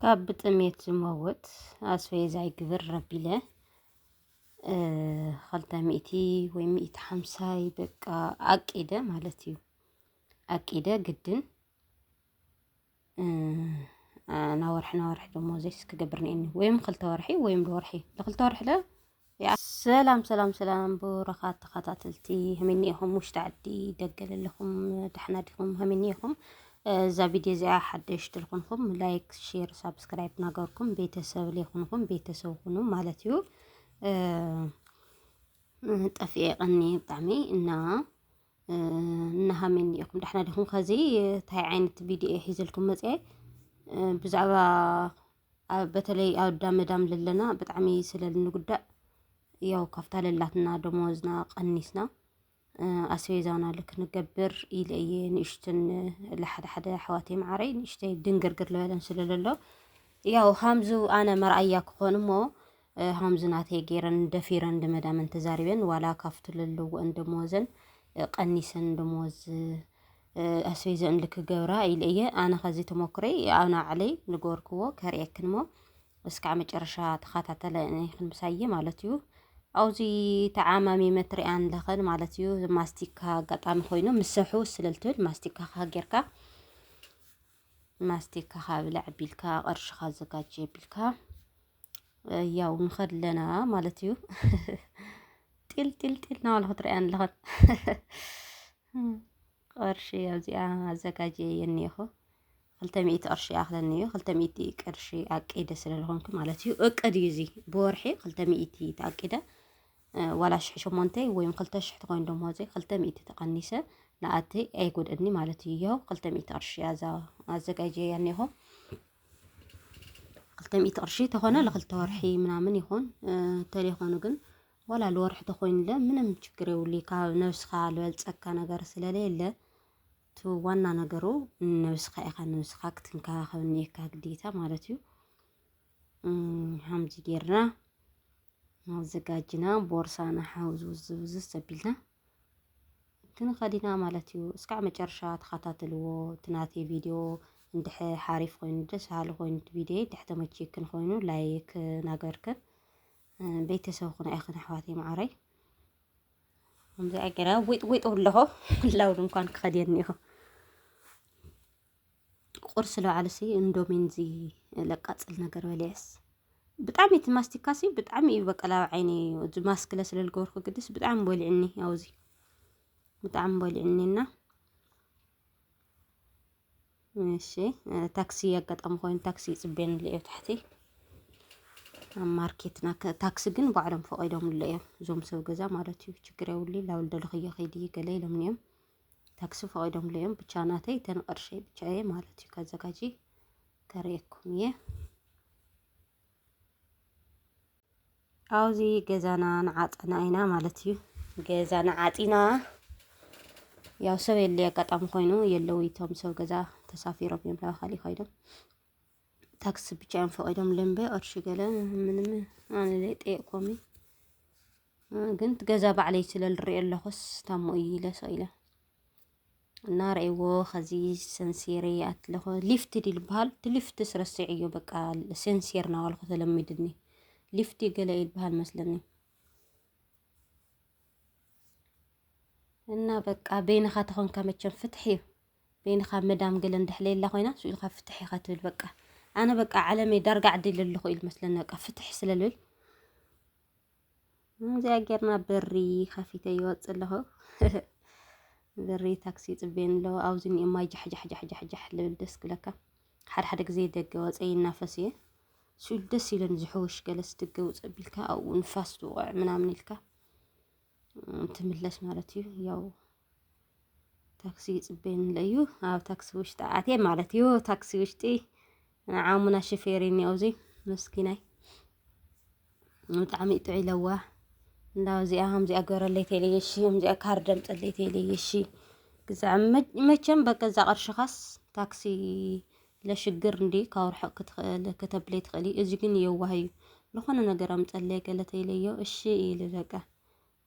ካብ ብጥሜት ዝመውት ኣስቤዛ ይግብር ረቢለ ኸልተ ሚእቲ ወይ ሚእቲ ሓምሳይ በቃ ኣቂደ ማለት እዩ ኣቂደ ግድን ናወርሒ ናወርሒ ደሞዘይስ ክገብር ነይኒ ወይም ኸልተ ወርሒ ወይም ወርሒ ንኽልተ ወርሒ ለ ሰላም ሰላም ሰላም ብሩኻት ተኸታተልቲ ሀመኒ ኢኹም ውሽጢ ዓዲ ደገ ለለኹም ዳሕና ዲኹም ሀመኒ ኢኹም እዛ ቪድዮ እዚኣ ሓደሽቲ ልኹንኹም ላይክ ሼር ሳብስክራይብ ናገርኩም ቤተሰብ ሌኹንኹም ቤተሰብ ሁኑ ማለት እዩ ጠፍኤ ቀኒ ብጣዕሚ እና እናሃመኒ ኢኹም ዳሕና ዲኹም ከዚ እንታይ ዓይነት ቪድዮ ሒዘልኩም መፅአ ብዛዕባ በተለይ ኣዳመዳም ለለና ብጣዕሚ ስለ እንጉዳእ ያው ካብታ ለላትና ደሞዝና ቀኒስና ኣስቤዛና ልክ ንገብር ኢለ እየ ንእሽትን ለሓደ ሓደ ኣሕዋተይ መዓረይ ንእሽተይ ድንግርግር ዝበለን ስለ ዘሎ ያው ሃምዙ ኣነ መርኣያ ክኾን እሞ ሃምዚ ናተይ ጌረን ደፊረን ንመዳመን ተዛሪበን ዋላ ካብቲ ዘለወን ደመወዘን ቀኒሰን ደመወዝ ኣስቤዘን ልክገብራ ኢለ እየ ኣነ ከዚ ተሞክረይ ኣብ ናዕለይ ንገበርክዎ ከርእየክን እሞ እስካዕ መጨረሻ ተኸታተለ ይኽን ምሳየ ማለት እዩ ኣብዚ ተዓማሚመ ትሪኣን ለኸን ማለት እዩ ማስቲካ ኣጋጣሚ ኮይኑ ምሰሑ ስለልትብል ማስቲካ ካሃ ጌርካ ማስቲካ ካብ ብላዕ ቢልካ ቅርሽካ ኣዘጋጅ ቢልካ ያው ንኸድለና ማለት እዩ ጢል ጢል ጢል ናበልኩ ትሪኣያ ኣለኹን ቅርሺ ኣብዚኣ ኣዘጋጀ የኒኹ ክልተ ሚእቲ ቅርሺ ይኣኽለኒ እዩ ክልተ ሚእቲ ቅርሺ ኣቂደ ስለዝኾንኩ ማለት እዩ እቅድ እዩ እዚ ብወርሒ ክልተ ሚእቲ ተኣቂደ ዋላ ሽሕ ሸሞንተ ወይም ክልተ ሽሕ ትኾይን ደሞዘይ ክልተ ሚእቲ ተቐኒሰ ንኣቲ ኣይጎድእኒ ማለት እዩ። ይኸው ክልተ ሚእቲ ቅርሺ ኣዛ ኣዘጋጀያ እኒሆ ክልተ ሚእቲ ቅርሺ ተኾነ ለክልተ ወርሒ ምናምን ይኾን ተሌኾኑ ግን ዋላ ለወርሒ ተኾይንለ ምንም ችግር የብሉ ካብ ነብስኻ ዝበልፀካ ነገር ስለሌለ እቲ ዋና ነገሩ ነብስኻ ኢኻ ነብስኻ ክትንከባኸብ እኒካ ግዴታ ማለት እዩ። ሃምዚ ጌርና ኣዘጋጅና ቦርሳና ሓውዝውዝ ውዝዝ ኣቢልና ክንኸዲና ማለት እዩ። እስካዕ መጨረሻ ተኸታተልዎ እቲ ናተይ ቪድዮ እንድሕ ሓሪፍ ኮይኑ ደስ በሃሊ ኮይኑ እቲ ቪድዮ እንድሕ ተመችየክን ኮይኑ ላይክ ናገርክን ቤተሰብ ኩና ኢኽን ኣሕዋተይ መዓረይ ከምዚ ኣገራ ዊጥ ዊጥ ኣለኹ ላውድ እንኳን ክኸድየኒ ኢኹ ቁርሲ ልበዓልሲ እንዶሚን እዚ ለቃፅል ነገር በሊዐስ ብጣዕሚ እቲ ማስቲካሲ ብጣዕሚ እዩ በቀላ ኣብ ዓይኒ እዚ ማስክለ ስለ ዝገበርኩ ግድስ ብጣዕሚ በሊዕኒ ኣብዚ ብጣዕሚ በሊዕኒ እና እሺ ታክሲ ኣጋጣሚ ኮይኑ ታክሲ ይፅበየን ኣሎ እዮ ታሕቲ ኣብ ማርኬትና ታክሲ ግን ባዕሎም ፈቂዶምሉ እዮም እዞም ሰብ ገዛ ማለት እዩ ችግር የብሉ ላብል ደለኽዮ ከይዲ ገለ ኢሎምኒ እዮም ታክሲ ፈቂዶምሉ እዮም ብቻ ናተይ እተን ቅርሸይ ብቻ እየ ማለት እዩ ከዘጋጂ ከርእየኩም እየ ኣብዚ ገዛና ንዓፀና ኢና ማለት እዩ ገዛና ዓፂና ያው ሰብ የለ ኣጋጣሚ ኮይኑ የለው እቶም ሰብ ገዛ ተሳፊሮም እዮም ላባካሊ ኮይዶም ታክሲ ብቻ እዮም ፈቂዶም ልምበ ቅርሺ ገለ ምንም ኣነ ጠየቅኮሚ ግን እቲ ገዛ ባዕለይ ስለ ዝሪኦ ኣለኹስ ታሞ እዩ ኢለ ሰው ኢለ እና ረእዎ ከዚ ሰንሴሬ ኣትለኾ ሊፍት ድል በሃል እቲ ሊፍት ስረስዐዮ በቃ ሴንሴር ናባልኩ ተለሚድኒ ሊፍት ገለ ይልበሃል መስለኒ እና በቃ በይንኻ ተኾንካ መቸም ፍትሕ እዩ በይንኻ መዳም ገለ እንዳሕለየላ ኮይና ስኡ ኢልካ ፍትሕ ኢኻ ትብል በቃ ኣነ በቃ ዓለመይ ዳርጋ ዓዲ ለለኹ ኢል መስለኒ በቃ ፍትሕ ስለልብል እዚኣ ጌርና ብሪ ከፊተ ይወፅእ ኣለኹ ብሪ ታክሲ ይፅበየኒ ኣሎ ኣብዚ እኒኦ ማይ ጃሕጃሕጃሕጃሕ ልብል ደስ ክብለካ ሓደ ሓደ ግዜ ደገ ወፀ ይናፈስ እየ ስሉ ደስ ይብለኒ ዝሕውሽ ገለስ ደገ ውፅእ ቢልካ ኣብኡ ንፋስ ዝውቕዕ ምናምን ኢልካ ትምለስ ማለት እዩ ያው ታክሲ ይፅበየኒ ኣሎ እዩ ኣብ ታክሲ ውሽጢ ኣትየ ማለት እዩ ታክሲ ውሽጢ ንዓሙና ሽፌር እኒ ኣብዚ ምስኪናይ ብጣዕሚ ጥዑይ ለዋ እንዳ እዚኣ ከምዚኣ ገረለይ ተለየ እሺ ከምዚኣ ካርድ ኣምፀለይ ተለየ እሺ ግዛዕ መቸም በቃ እዛ ቅርሽኻስ ታክሲ ለሽግር እንዲ ካብ ርሑቕ ክትኽእል ከተብለይ ትኽእሊ እዚ ግን የዋህ እዩ ዝኾነ ነገር ኣምፀለይ ገለ ተይለዮ እሺ ኢሉ በቃ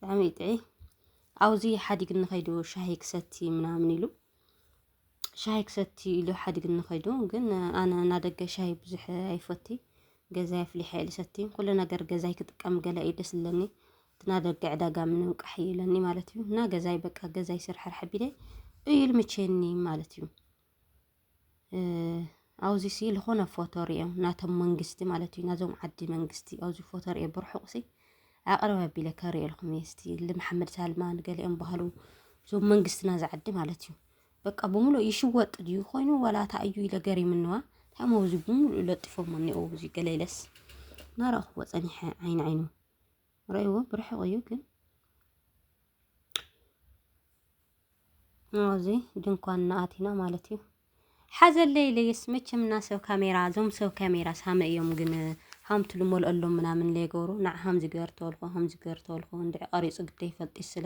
ብጣዕሚ እዩ ጥዒ ኣውዚ ሓዲግኒ ከይዱ ሻሂ ክሰቲ ምናምን ኢሉ ሻሂ ክሰቲ ኢሉ ሓዲግኒ ከይዱ ግን ኣነ እናደገ ሻሂ ብዙሕ ኣይፈቲ ገዛይ ኣፍሊሐ ኢሉ ሰቲ ኩሉ ነገር ገዛይ ክጥቀም ገለ እዩ ደስ ዝለኒ ትናደገ ዕዳጋ ምንም ቃሕ ይለኒ ማለት እዩ እና ገዛይ በቃ ገዛይ ስርሕርሕ ቢለ እዩ ልምቼኒ ማለት እዩ ኣብዚ ሲ ዝኾነ ፎቶ ሪኦ ናቶም መንግስቲ ማለት እዩ ናዞም ዓዲ መንግስቲ ኣብዚ ፎቶ ሪኦ ብርሑቕ ሲ ኣቕርብ ኣቢለ ከሪኦልኩም እየ ስቲ ልመሓመድ ሳልማን ገሊኦም ባህሉ እዞም መንግስትና ዝዓዲ ማለት እዩ በቃ ብምሉእ ይሽወጥ ድዩ ኮይኑ ዋላ እታ እዩ ኢለ ገሪምንዋ ታሞ እዚ ብምሉእ ለጢፎሞ እኒኦ እዚ ገለለስ ናረእኽዎ ፀኒሐ ዓይኒ ዓይኑ ርእይዎ ብርሕቕ እዩ ግን ኣብዚ ድንኳን ናኣቲና ማለት እዩ ሓዘለይ ለየስ መቸም እና ሰብ ካሜራ እዞም ሰብ ካሜራ ሳመ እዮም ግን ሃምቱ ልመልኦሎም ምናምን ለይገብሩ ንዓ ሃምዚ ገር ተበልኮ ሃምዚ ገር ተበልኮ እንድዒ ቀሪፁ ግደ ይፈልጥ ስለ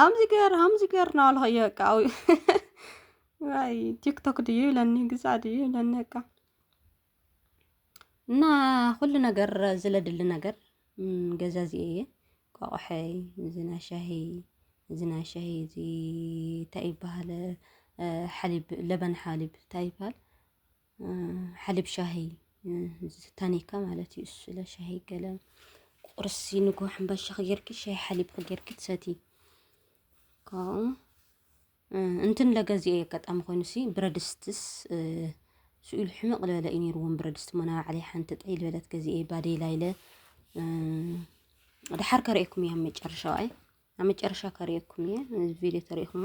ኣምዚገር ኣምዚገር ናበልካዮ በቃ ዋይ ቲክቶክ ድዩ ይብለኒ ግዛዕ ድዩ ይብለኒ በቃ እና ኩሉ ነገር ዝለድሊ ነገር ገዛዚኤ እየ ቆቆሐይ እዚ ናይ ሻሂ እዚ ናይ ሻሂ እዚ እንታይ ይበሃል ሓሊብ ለበን ሓሊብ እንታይ ይበሃል ሓሊብ ሻሂ ዝታኒካ ማለት እዩ። እሱ ለሻሂ ገለ ቁርሲ ንጎ ሕምባሻ ክጌርኪ ሻሂ ሓሊብ ክጌርኪ ትሰቲ ካብኡ እንትን ለገዚኦ የጋጣሚ ኮይኑሲ ብረድስትስ ስኢሉ ሕመቕ ዝበለ እዩ ነይሩዎም ብረድስቲ ሞና ባዕለይ ሓንቲ ጠይ ዝበለት ገዚኤ ባደይ ላይለ ድሓር ከርእየኩም እየ ኣብ መጨረሻ ዋኣይ ኣብ መጨረሻ ከርእየኩም እየ ቪድዮ ተርእኹሞ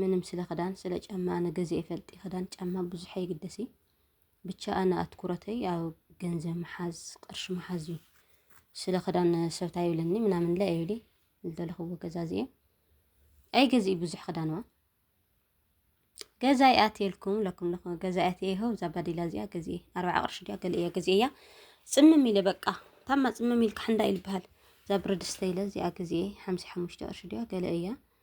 ምንም ስለ ክዳን ስለ ጫማ ኣነ ገዚኤ ፈልጢ ክዳን ጫማ ብዙሕ ኣይግደሲ ብቻ ኣነ ኣትኩረተይ ኣብ ገንዘብ ምሓዝ ቅርሺ ምሓዝ እዩ ስለ ክዳን ሰብታ ይብለኒ ምናምን ለ ይብሊ ዝደለኽዎ ገዛዚኤ ኣይገዝኢ ብዙሕ ክዳንዋ ገዛይ ኣትየልኩም ለኩም ለኹ ገዛይ ኣትየ ይኸው እዛ ባዲላ እዚኣ ገዝኤ ኣርባዓ ቅርሺ ድያ ገለ እያ ገዝኤ እያ ፅምም ኢለ በቃ ታማ ፅምም ኢልካ ሕንዳ ኢልበሃል እዛ ብረድስተ ኢለ እዚኣ ገዝኤ ሓምሳ ሓሙሽተ ቅርሺ ድያ ገለ እያ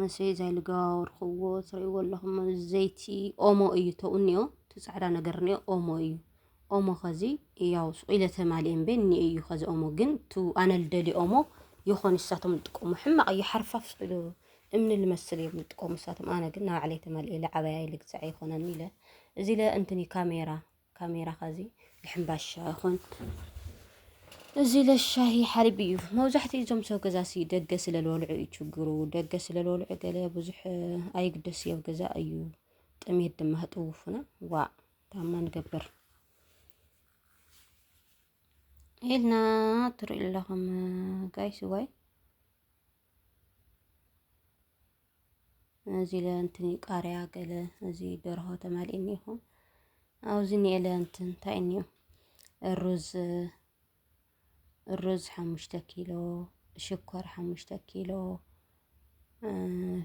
መሰይ እዛ ልገባወርክዎ ትርእይዎ ኣለኹም ዘይቲ ኦሞ እዩ ተኡ እኒኦ እቲ ፃዕዳ ነገር እኒኦ ኦሞ እዩ ኦሞ ከዚ ያው ሱቂለ ተማሊኤ እምበ እኒኦ እዩ ከዚ ኦሞ ግን ቱ ኣነ ልደሊ ኦሞ ይኾን እሳቶም ልጥቀሙ ሕማቕ እዩ ሓርፋፍ ስኢሉ እምኒ ልመስል እዮም ልጥቀሙ እሳቶም ኣነ ግን ናባዕለይ ተማሊኤ ልዓበያይ ልግዛዕ ይኾነኒ ኢለ እዚ ለ እንትኒ ካሜራ ካሜራ ከዚ ብሕምባሻ ይኾን እዚ ለሻሂ ሓሊብ እዩ መብዛሕትኡ እዞም ሰብ ገዛ ሲ ደገ ስለልወልዑ እዩ ችግሩ ደገ ስለልወልዑ ገለ ብዙሕ ኣይግደስ እዮብ ገዛ እዩ ጥሜት ድማ ህጥውፉና ዋ ታማ ንገብር ኢልና ትርኢ ኣለኹም ጋይስ ዋይ እዚ ለ እንትን ቃርያ ገለ እዚ ደርሆ ተማልእ እኒኹ ኣብዚ ኒኤለ እንትን እንታይ እኒኦ ሩዝ ሩዝ ሓሙሽተ ኪሎ ሽኮር ሓሙሽተ ኪሎ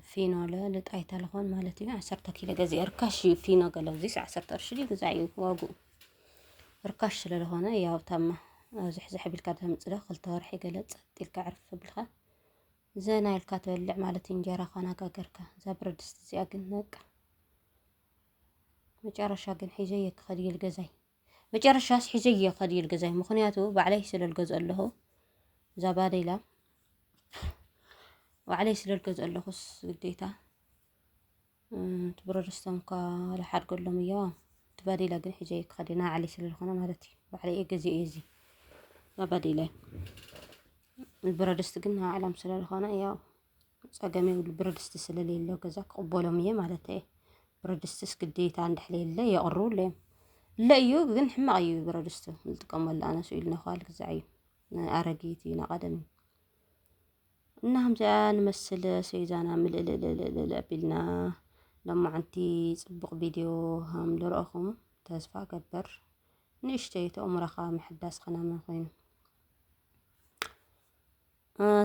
ፊኖ ለ ልጣይታ ልኾን ማለት እዩ ዓሰርተ ኪሎ ገዚአ ርካሽ እዩ ፊኖ ገለ እዚስ ዓሰርተ ቅርሺ ድዩ ግዛእ እዩ ዋግኡ ርካሽ ስለ ዝኾነ ያው ታማ ዝሕዝሕ ቢልካ ተምፅዶ ክልተ ወርሒ ገለ ጸጥ ኢልካ ዕርፍ ብልካ ዘና ኢልካ ትበልዕ ማለት እንጀራ ኳና ጋገርካ እዛ ብረት ድስቲ እዚኣ ግን በቃ መጨረሻ ግን ሒዘየ ክኸድ እየ ልገዛይ መጨረሻስ ሒዘየ ክኸድ እየ ልገዛይ ምክንያቱ ባዕለይ ስለ ልገዝኦ ኣለኹ እዛ ባደይላ ባዕለይ ስለ ልገዝኦ ኣለኹስ ግዴታ እቲ ብረድስቶም እኳ ልሓድገሎም እዮ እቲ ባዴላ ግን ሒጀ እየ ክኸድ ናይ ባዕለይ ስለ ዝኾነ ማለት እዩ ባዕለይ እየ ገዚኦ እዚ ባዴላይ ብረድስቲ ግን ናይ ባዕሎም ስለ ዝኾነ ያው ፀገም የብሉ ብረድስቲ ስለሌለ ገዛ ክቕበሎም እየ ማለት እየ ብረድስትስ ግዴታ እንድሕር የለ የቕርቡለይ እዮም እለ እዩ ግን ሕማቕ እዩ ብረድስቲ ዝጥቀመሉ ኣነስ ኢሉ ነዃል ግዛዕ እዩ ኣረጊት እዩ ናይ ቐደም እዩ እና ከምዚኣ ንመስል ሰዩዛና ምልእልእልእልእልእ ኣቢልና ሎማዓንቲ ፅቡቕ ቪድዮ ሃም ልረአኹም ተስፋ ገበር ንእሽተይ ተእምሮኻ ምሕዳስ ኸናመ ኮይኑ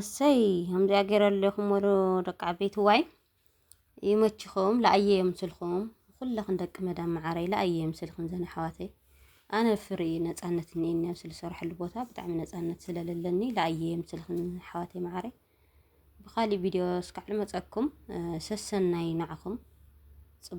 እሰይ ከምዚኣ ገይረ ኣለኹም ወሉ ደቂ ዓበይቲ ዋይ ይመችኹም ለኣየ የምስልኹም ኩለኽን ደቂ መዳም መዓረይ ለኣየ የምስልኽን ዘን ኣሕዋተይ ኣነ ፍሪ ነፃነት እኒኤኒ ኣብ ዝሰርሐሉ ቦታ ብጣዕሚ ነፃነት ስለለለኒ ለኣየ የምስልኽን ኣሕዋተይ መዓረይ ብኻሊእ ቪድዮ እስካዕ ልመፀኩም ሰሰናይ ናዕኹም ፅቡቅ